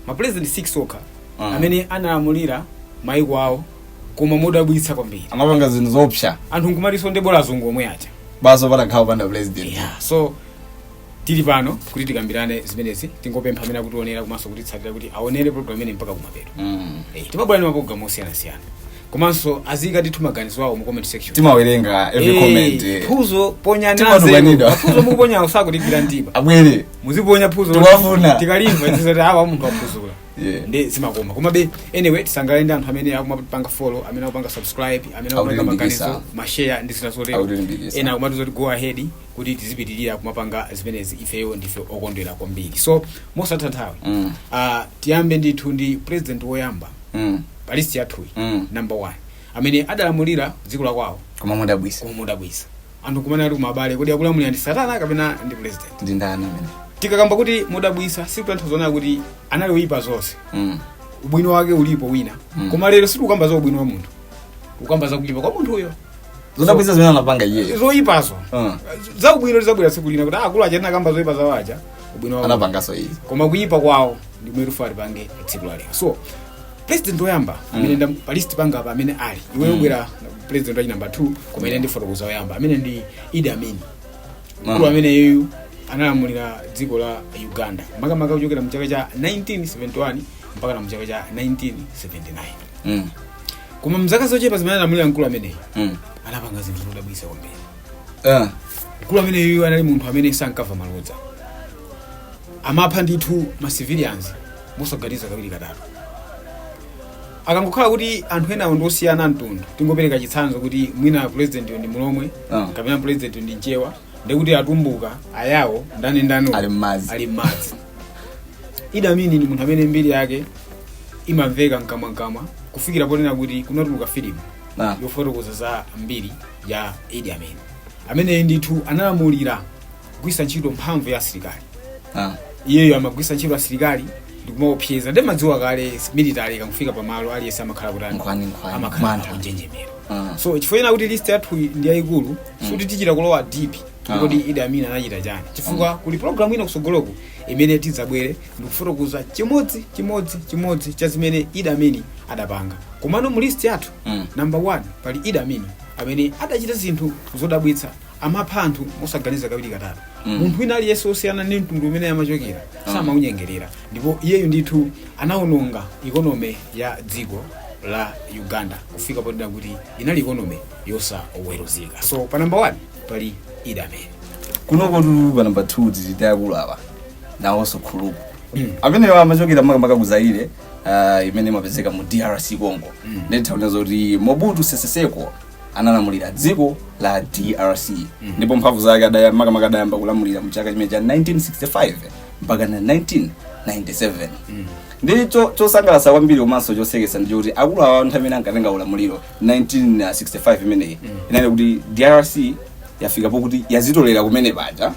mapulezidenti 6 okha Mm. amene analamulira maiko awo koma modabwitsa kwambiri amapanga zinthu zoopsa anthu nkumati zoonadi bola azungu omwe aja basi patakhala panda president yeah. so tili pano kuti tikambirane zimenezi tingopempha amene akutionera komanso kutitsatira kuti aonere program imeneyi mpaka kumapeto Mm. Eh, timabwera ndi maprogramu osiyanasiyana komanso aziyika ndithu maganizo awo mu comment section timawerenga every Eh, comment eh. funso ponyani Timatukwanidwa. anzeru. Mafunso mukuponya osakutigwira mtima abwere muziponya funso Tiwafuna. tikalimva tizati awa munthu aphuzula Yeah. ndi zimakoma komabe anyway tisangalale ndi anthu amene akumapanga follow amene akupanga subscribe amene akupanga Akutilimbikisa. maganizo mashare ndi zina zotero Akutilimbikisa. ena akumatiuza kuti go ahead kuti tizipitiriza kumapanga zimenezi ifeyo ndife okondwera kwambiri so mosataya nthawi Mm. ah, tiyambe ndithu ndi president woyamba Mm. pa list yathuyi Mm. number one amene adalamulira dziko la kwawo koma modabwitsa koma modabwitsa anthu kumene ali kumati abale kodi akulamulira ndi satana kapena ndi president ndi ndani amene tikakamba kuti modabwitsa sikutanthauza zonena kuti anali oyipa zonse Mm. ubwino wake ulipo wina Mm. koma lero sitikukamba za ubwino wa munthu tikukamba za kuyipa kwa munthuyo zodabwisa zimene anapanga iyeyo zoyipazo Mm. za ubwino lizabwera tsiku lina kuti akulu aja tinakamba zoyipa zawo aja ubwino wawo anapangaso izi koma kuyipa kwawo ndi komwe tikufuna tipange tsiku la lero so president woyamba amene ali pa list panga apa amene ali iwe ubwera president wa number 2 koma ine ndifotokoze woyamba amene ndi Idi Amin mkulu ameneyu analamulira dziko la Uganda makamaka kuchokera mu chaka cha 1971 mpaka na mu chaka cha 1979 Mm, koma mzaka zochepa zimene analamulira mkulu ameneyi mm. anapanga zinthu zodabwitsa kwambiri Ah, mkulu ameneyu anali munthu amene sankava malodza amapha ndithu ma civilians mosaganiza kawiri katatu akangokhala kuti anthu enawo ndi osiyana mtundu tingopereka chitsanzo kuti mwina president ndi mlomwe Ah. kapena president ndi mchewa ndikuti atumbuka ayao ndani ndani Ali m'madzi. ali m'madzi Idi Amin ndi munthu amene mbiri yake imamveka mkamwamkamwa kufikira ponena kuti kunatuluka filimu Ah. yofotokoza za mbiri ya Idi Amin ameneyi ndithu analamulira kugwisa ntchito mphamvu ya asilikali Ah. iyeyo amagwisa ntchito asilikali ndikumaopseza nde umadziwa kale military ikafika pamalo aliyense amakhala kuti kutani, amakhala mantha. kunjenjemera Ah. so chifukwa china kuti list yathu ndi yayikulu sikuti tichita kulowa deep Ah. kodi Idi Amin anachita chani chifukwa kuli program ina kusogoloku imene tidzabwere ndikufotokoza chimodzi chimodzi chimodzi cha zimene Idi Amin adapanga komano mu list yathu Mm. number one pali Idi Amin amene adachita zinthu zodabwitsa amapha anthu mosaganiza kawiri katatu Mm. munthu wina aliyense wosiyana ndi mtundu umene amachokera samaunyengerera ndipo iyeyu ndithu anawononga economy ya dziko la Uganda kufika ponena kuti inali economy yosaweruzika so pa number one pali idi amin kunoko pa namba 2 tili ndi akulu awa nawonso akuluakulu amenewa amachokera makamaka ku zaire ah, imene imapezeka mu drc congo nde taona zoti mobutu seseseko analamulira dziko la drc ndipo mphamvu zake adaya- makamaka adayamba kulamulira mu chaka chimene cha 1965 mpaka na 1997 ndi cho- chosangalatsa kwambiri komanso chosekesa ndi choti akulu awa nthawi imene ankatenga ulamuliro 1965 imeneyi inali kuti drc yafika pokuti yazitolera kumene paja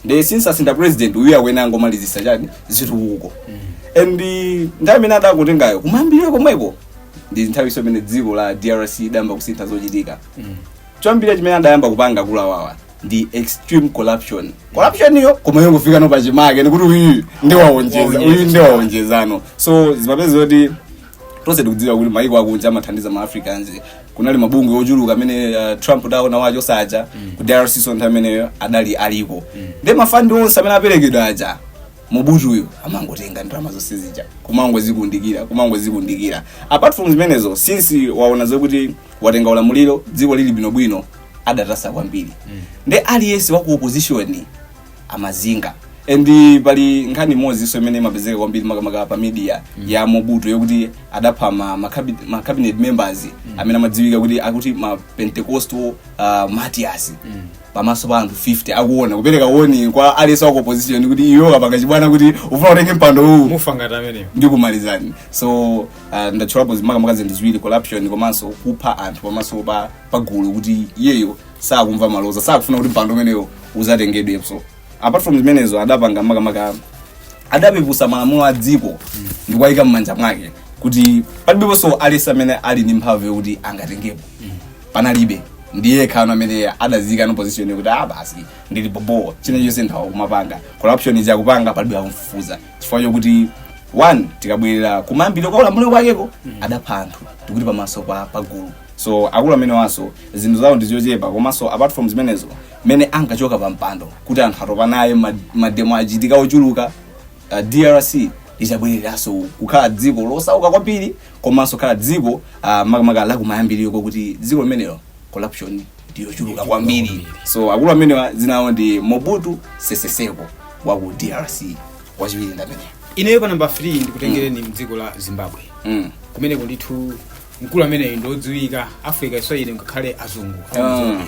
nde since asinda president uyu awene angomalizisa chani zitukuko and eh, nthawi imene adakutengayo kumayambirira komweko ndi nthawinso imene dziko la drc lidayamba kusintha zochitika choyambirira chimene adayamba kupanga akulu awawa ndi extreme corruption corruption iyi koma yongofika no pachimake nikuti uyu ndiwaonjeza uyu ndiwaonjezano so zimapezeka kuti tonse tikudziwa kuti maiko akunja amathandiza ma africa kunali mabungwe ochuluka amene uh, trump taona wachotsa aja ku drc so nthawi imeneyo adali aliko nde mafandi onse amene aperekedwa aja mobutuyu amangotenga ndalama zonse zija kumangozikundikira kumangozikundikira apart from zimenezo since waona zokuti watenga ulamuliro dziko lili bwinobwino adatasa kwambiri nde aliyense wa ku opposition amazinga and pali nkhani imodzinso imene imapezeka kwambiri makamaka pa media ya mobutu yokuti adapha ma, ma, cabi- ma cabinet members amene amadziwika kuti akuti ma pentecostal uh, martyrs pamaso pa anthu 50 akuona kupereka warning kwa aliyense wa opposition kuti iwe ukapanga chibwana kuti ufuna utenge mpando uwu mufa ngati amenewo ndikumalizani so uh, ndatchulapo makamaka zinthu ziwiri corruption komanso kupha anthu pamaso pa pagulu kuti iyeyo sakumva maloza sakufuna kuti mpando umenewo uzatengedwenso apart from zimenezo adapanga makamaka adapepusa malamulo a dziko ndi kuwayika m'manja mwake kuti palibeponso aliyense amene ali ndi mphamvu yokuti angatengepo panalibe nde kenako amene adazika no position yokuti ah basi ndili bobo chinachilichonse nditha kumapanga corruption ija kupanga palibe akumfufuza chifukwa chokuti one tikabwerera kumayambiriro kwa ulamuliro wakeko adapha anthu tikuti pamaso pa pagulu so akulu amenewanso zinthu zawo ndizochepa komanso apart from zimenezo mmene ankachoka pa mpando kuti anthu atopa naye ma- mademo achitika ochuluka uh, drc idabwereranso kukhala dziko losauka kwambiri komanso kukhala dziko uh, makamaka lakumayambiriro kokuti dziko limenelo corruption ndiyochuluka kwambiri so akulu amenewa dzina lawo ndi mobutu seseseko wa ku drc wachiwiri ndameneyo ineyo pa namba 3 ndikutengereni mdziko la zimbabwe mm. kumeneko ndithu mkulu ameneyu ndi wodziwika africa as well ngakhale azungu Ah.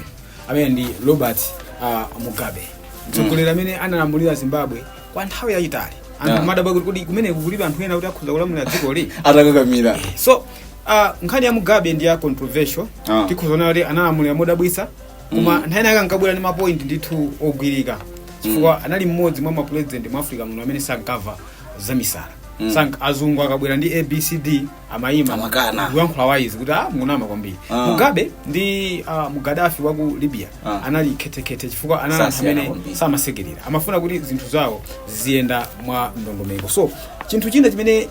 amene ndi robert ah, mugabe mtsogoleri amene analamulira zimbabwe kwa nthawi yayitali anthu Ah. amadabwa kuti kodi kumene kukulibe anthu ena kuti akhoza kulamulira dzikoli atakakamira so ah, nkhani ya mugabe ndi ya controversial Ah. tikhoza kuona kuti analamulira modabwitsa koma nthawi inayake ankabwera ndi mapoint ndithu ogwirika chifukwa anali mmodzi mwa mapulezidenti mu africa muno amene sankava zamisala Sank- azungu akabwera ndi abcd amayima Amakana. kuyankhula wayizi kuti ah munama kwambiri Ah. mugabe ndi ah, gaddafi wa ku libya Ah. anali khethekhethe chifukwa anali anthu Sasiyana amene kwambiri. samasekerera amafuna kuti zinthu zawo ziziyenda mwa ndondomeko so chinthu china chimene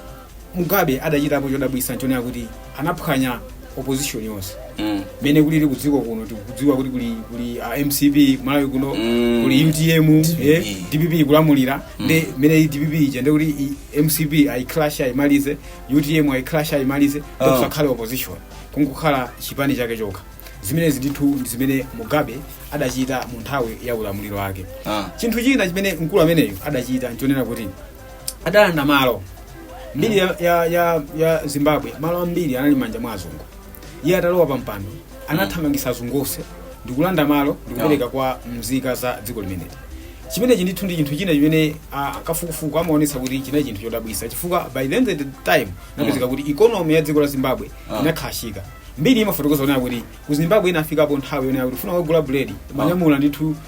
mugabe adachitapo chodabwitsa nchonena kuti anaphwanya opposition yonse Mm. mene kulili kudziko kuno tikudziwa kuti kuli kuli uh, mcp malawi kuno Mm. kuli utm DPP. eh, dpp kulamulira ndi mene dpp ija ndekuti i- mcp ayicrash ayimalize utm ayicrash ayimalize Ah. kusakhale opposition kungokhala chipani chake chokha zimenezi ndithu ndi zimene mugabe adachita mu nthawi ya ulamuliro wake Ah. chinthu china chimene mkulu ameneyo adachita nchonena kuti adalanda malo mbiri ya, ya, ya, ya zimbabwe malo ambiri anali m'manja mwa azungu iye atalowa pa mpando anathamangisa azungu onse ndikulanda malo ndikupereka kwa mzika za dziko limeneli chimenechi ndithu ndi chinthu china chimene ah, kafukufuku amaonetsa kuti china chinthu chodabwitsa chifukwa by the end of the time inapezeka kuti ikonomi ya dziko la zimbabwe Ah. inakrashika mbiri imafotokoza zonena kuti ku zimbabwe inafikapo nthawi yonena kuti kufuna kugula buledi umanyamula ndithu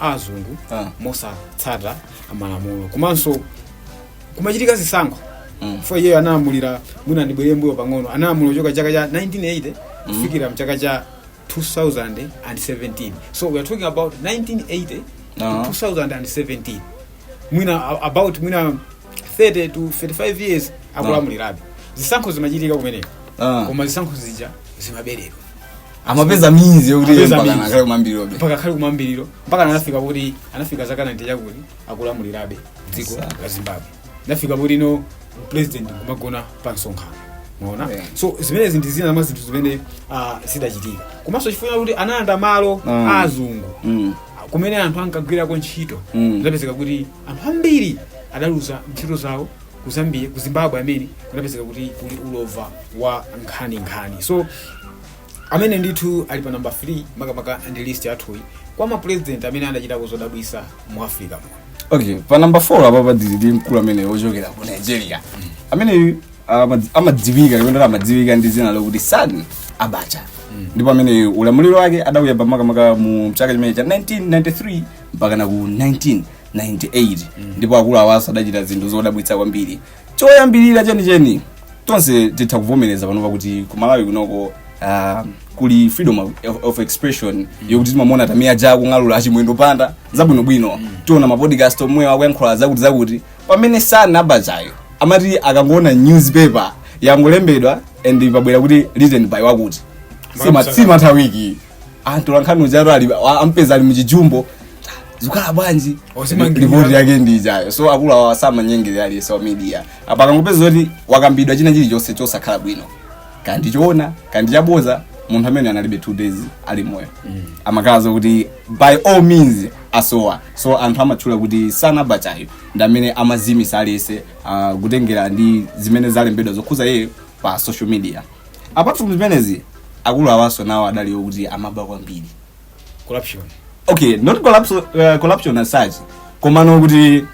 a azungu Ah. mosatsata malamulo komanso kumachitika zisankho Mm. for iyeyo analamulira mwina ndibwere mbuyo pang'ono analamulira kuchoka chaka cha 1980 kufikira mchaka cha 2017 so we are talking about 1980 Ah. to 2017 mwina a- about mwina 30 to 35 years akulamulirabe zisankho zimachitika kumeneko Ah. koma zisankho zija zimaberedwa amapeza means yokuti iye Amapeza mpaka means. akhale kumambirirobe mpaka khali kumambiriro mpaka anafika kuti anafika zaka 90 chakuti akulamulirabe dziko Sawa. la zimbabwe anafika poti no president kumagona pa msonkhano mwaona Yeah. so zimenezi ndi zina mwa zinthu zimene ah, zidachitika komanso chifukwa kuti analanda malo Mm. a azungu Mm. kumene anthu ankagwirako ntchito Mm. zidapezeka kuti anthu ambiri adaluza ntchito zawo ku zambia ku zimbabwe amene kunapezeka kuti kuli ulova wa nkhani nkhani so amene ndithu ali pa namba 3 makamaka ndi list yathuyi kwa mapulezidenti amene anachitako zodabwitsa mu africa muno okay pa namba 4 apapa pali ndi mkulu amene wochokera ku nigeria ameneyu amadzi- amadziwika kapena amadziwika ndi dzina lokuti sani abacha ndipo amene ulamuliro wake adauya pamakamaka mu chaka chimene cha 1993 mpakana ku 19 98 ndipo akulu awaso adachita zinthu zodabwitsa kwambiri choyambirira chenicheni tonse titha kuvomereza panopa kuti ku malawi kunoko ah, kuli freedom of, of expression yokuti timamuona tamiya ja kung'alula achimwendo panda zabwinobwino tiona mapodcast omwe akuyankhula zakuti zakuti pamene sana abachayo amati akangoona newspaper yangolembedwa and pabwera kuti written by wakuti Sima- simatha wiki antola nkhani ujaro ali a- ampeza ali muchijumbo zikhala bwanji Osimangirira. ripoti yake ndi ijayo so akulu awa samanyengerera aliyense wa media apa akangopeza zoti wakambidwa china chilichonse chosakhala bwino kandi choona kandi chaboza munthu amene analibe two days ali moyo amakhala zokuti by all means asowa so anthu amatchula kuti Sani Abachayo ndi amene amazimisa aliyense ah, kutengera ndi zimene zalembedwa zokhuza iye pa social media apart from zimenezi akulu awaso nawo adali okuti amaba kwambiri corruption okay not collapse, uh, corruption as such komano kuti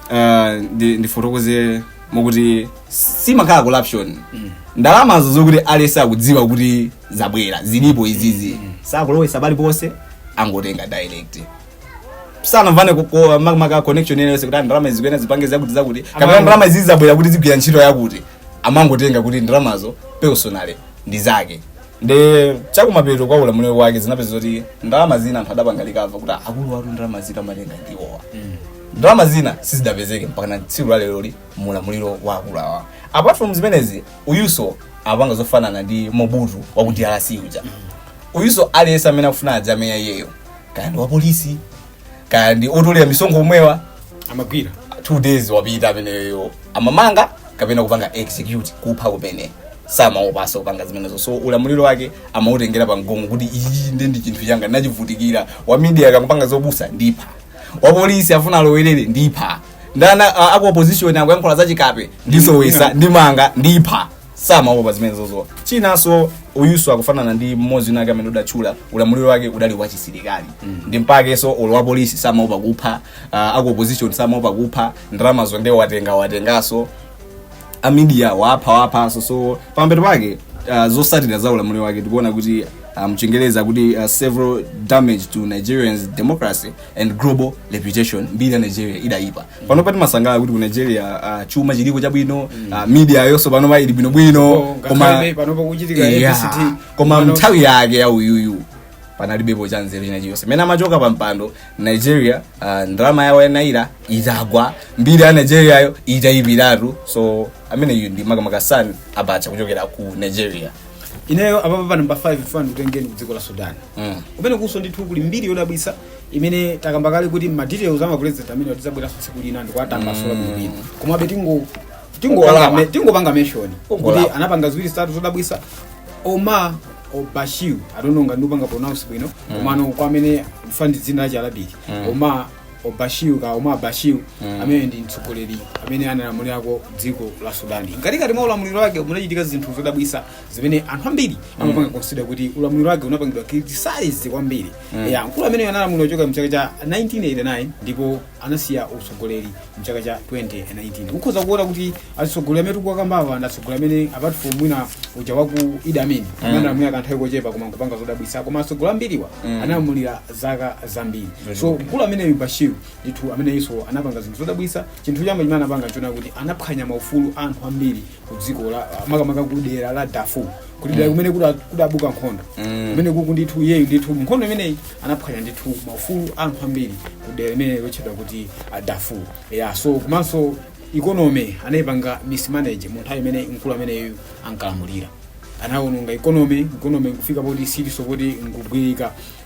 uh, ndi- ndifotokoze mokuti simakhala corruption ndalamazo zokuti alese akudziwa kuti zabwera zilipo izizi sakulowesa paliponse angotenga direct sanamvane kukowa makamaka connection yense kuti ndalama izi kuena zipange zakuti zakuti kapena Amango- ndalama izi zabwera kuti zigwira ntchito yakuti amangotenga kuti ndalamazo personally ndi zake nde chakumapeto kwa ulamuliro wake zinapezeka kuti ndalama zina anthu adapanga recover kuti akulu atu ndalama zina amatenga ndiwowa ndalama zina sizidapezeke mpaka na tsiku la leroli mu ulamuliro wa akulu awa apart from zimenezi uyuso amapanga zofanana ndi mobutu wa ku drc uja uyuso aliyense amene akufuna adzamenya iyeyo kaya ndi wapolisi kaya ndi otolera misonkho omwewa amagwira two days wapita ameneyo amamanga kapena kupanga execute kupha kumene samaopanso kupanga zimenezo so ulamuliro wake amautengera pa mgongo kuti iyi ndi ndi chinthu changa ndachivutikira wa media akapanga zobusa ndipha wapolisi afuna alowerere ndipha ndana uh, aku opposition akuyankhula zachikape ndisowesa ndimanga ndipha samaopa zimenezozo chinanso uyuso akufanana ndi mmodzi unake amene udatchula ulamuliro wake udali wachisilikali ndi mpakenso olo wa polisi samaopa kupha uh, aku opposition samaopa kupha ndalamazo nde watenga watenganso amidia wapha waphanso so pamapeto pake uh, zosatira za ulamuliro wake tikuona kuti uh, mchingereza kuti uh, several damage to nigeria's democracy and global reputation mbiri ya nigeria idayipa panopa timasangalala kuti ku nigeria ah, chuma chiliko chabwino ah, media yonso panopa ili bwinobwino koma Ngakhale pano pakuchitika Yeah. ABCT. koma Pano- mnthawi yake ya uyuyu panalibepo cha nzeru china chiyonse mene amachoka pa mpando nigeria ah, ndalama yawo ya naira itagwa mbiri ya nigeria yo itayipiratu so ameneyu ndi makamaka san abacha kuchokera ku nigeria ineyo apapa pa namba 5 funa ndikutengeni ku dziko la sudan Mm. kumene kuso ndithu kuli mbiri yodabwisa imene takamba kale kuti ma details ama president amene tizabwera tsiku lina ndikuwatambasula mm. bwinobwino komabe tingo tingopanga me- tingopanga mention kuti Ungolapa. anapanga ziwiri zitatu zodabwitsa Omar Bashir I don't know ngati ndikupanga pronounce bwino komano kwa amene akumva ndi dzina la chiarabic Omar Bashir ka Omar Bashir amene ndi mtsogoleri amene analamulirako dziko la sudan mkatikati mwa ulamuliro wake munachitika zinthu zodabwisa zimene anthu ambiri amapanga consider kuti ulamuliro wake unapangidwa criticize kwambiri Mm. ya mkulu ameneyo analamulira kuchoka mchaka cha 1989 ndipo anasiya utsogoleri mchaka cha 2019 kukhoza kuona kuti atsogoleri amene tikuwakambawa ndi atsogoleri amene apart from mwina uja waku Idi Amin amene analamulira kanthawi kochepa koma nkupanga zodabwitsa koma atsogoleri ambiriwa Mm. analamulira zaka zambiri Very so good. mkulu ameneyu bashir ndithu ameneyinso anapanga zinthu zodabwitsa chinthu choyamba chimene anapanga chonena kuti anaphwanya maufulu a anthu ambiri kudziko la makamaka kudera la Darfur kuti dera kumene kuda- kudabuka nkhondo Mm. kumene kuku ndithu iyeyu ndithu nkhondo imeneyi anaphwanya ndithu maufulu a anthu ambiri kudera limene lotchedwa kuti Darfur ya so komanso economy anayipanga mismanage mu nthawi imene mkulu ameneyu ankalamulira anawononga economy economy nkufika poti siliso poti nkugwirika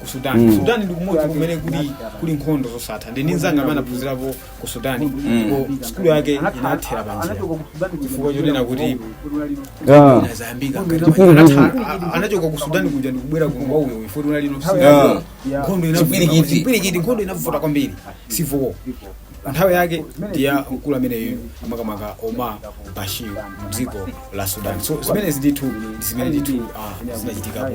ku sudan mm. sudan ndi kumodzi kumene kuli kuli nkhondo zosatha ndili ndi mzanga amene anaphunzirapo ku sudan ndipo sukulu yake inathera panjira chifukwa chonena kuti Yeah. inazayambika anachoka ku sudan kuja ndikubwera kuno kwa uyo ifoti unali Yeah. nkhondo inavuta- Chipwirikiti. chipwirikiti nkhondo inavuta kwambiri civil war nthawi yake ndi ya mkulu ameneyu makamaka omar bashir mdziko la sudan so zimenezi ndithu ndi zimene ndithu ah, zinachitika